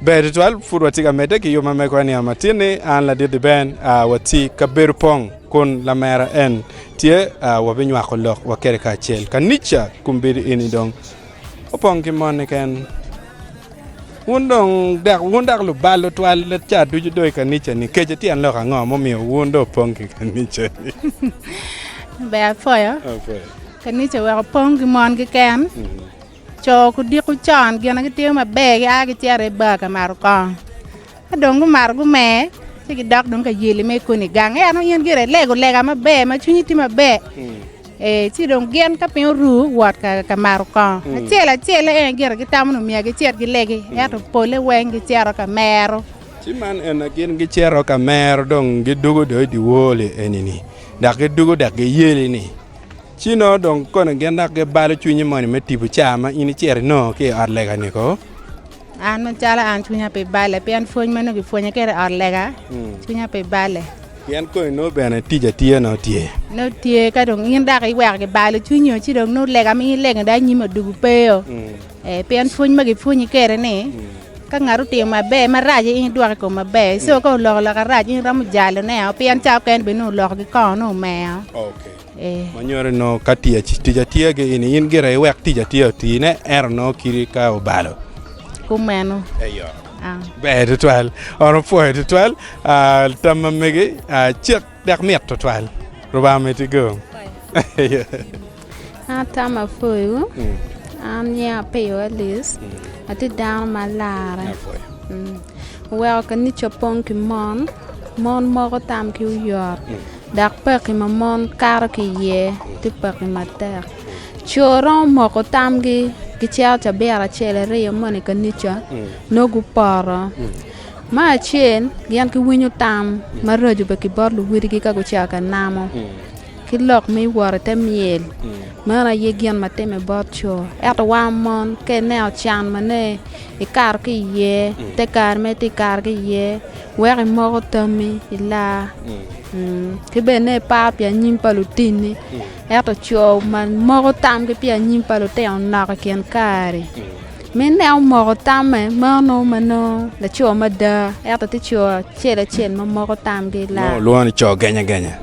Ber tutwal pud watye ka medde ki yub ma mego eniya matin ni an ladit-ti ben a wati ka bedo pong kun lamera en tye a wabinywako lok wa kede kacel kanica kun bedo eni dong opong ki mon niken wun dong dok wun dok lubal tutwal ca ducu do i kanica-ni kece tyen lok ango mumiyo wun do opong ki kanica-ni Ber apoyo kanica weko pong ki mon kiken Co gudiko con gine gitimo maber gia gicito i bar ka mato kong ka dong gumato gumer ci gidok dong ka yeli me koni gang en dong in gire ilego lega maber ma cwinyi tye maber ee ci dong gin ka piny oru wot ka mato kong acel acel en gire gitamo nongo myero gicit gilegi ento pole weng gicito ka mero. Ci man ene gin gicito ka mero dong gidwogo dong i dye wor-ri eni-ni dok gidwogo dok giyeli-ni. Ci nongo dong kono gin dok gibalo cwinyi moni me tipo caa ma in icito inongo ki i ot lega-ni ko? An macalo an cwinya pe balle pien pwony ma nongo kipwonye kwede i ot lega, cwinya pe balle. Pien koni nongo bene tic atir nongo tye? Nongo tye, ka dong in dok iweko kibalo cwinyo ci dong nongo lega ma in ilego-ni dong anyim odugo peyo. Ee, pien pwony ma gipwonyi kwede-ni, ka ngat otimo maber, marac aye in idwoko i kome maber. Ento ka oloko loka rac in iromo jalone-o, pien cawa mukene bene nongo oloko gikongo nongo omer. e. Ma nyuto ni nongo ka tic tic atiya ki ini in gire iwek tic atiya otine ento nongo kiri ka obalo Kumeno. eyo Ah. ber tutwal on opwoyo tutwal ah, tam ma megi ah, cek dek mit tutwal Lubanga omiti go Atama Pwoyo, an nyinga Apiyo Alice, atye dano ma larre. Apwoyo. Mm. Oweko kanica pong ki mon, mon moko tam ki oyot. Dok pekki ma mon kato ki iye tye pekki matek. Co romo moko tamgi gicito cabiro acel aryo moni i kanica nongo gupoto. Me acel gin giwinyo tam maraco bene ki bot luwotgi ka gucito ka namo ki lok me wot i te myel. Meno aye gin ma timme bot co. Ento wan mon ka ineno can ma nongo ikato ki iye te kare ma itye ka kato ki iye. Wek imoko tammi i laa, ki bene ipar pi anyim pa lutinni. Ento co ma moko tamgi pi anyim pa lutino nok i kin kare-ri, minne omoko tamme meno nongo ma nongo laco mada, ento tye co acel acel ma moko tamgi i laa. Lwongo ni co genyagenya.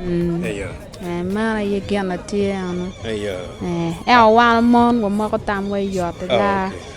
Eyo. Ee, meno aye gin ma tye eno. Eyo. Ee, ento wan mon wamoko tamwa i ot i laa.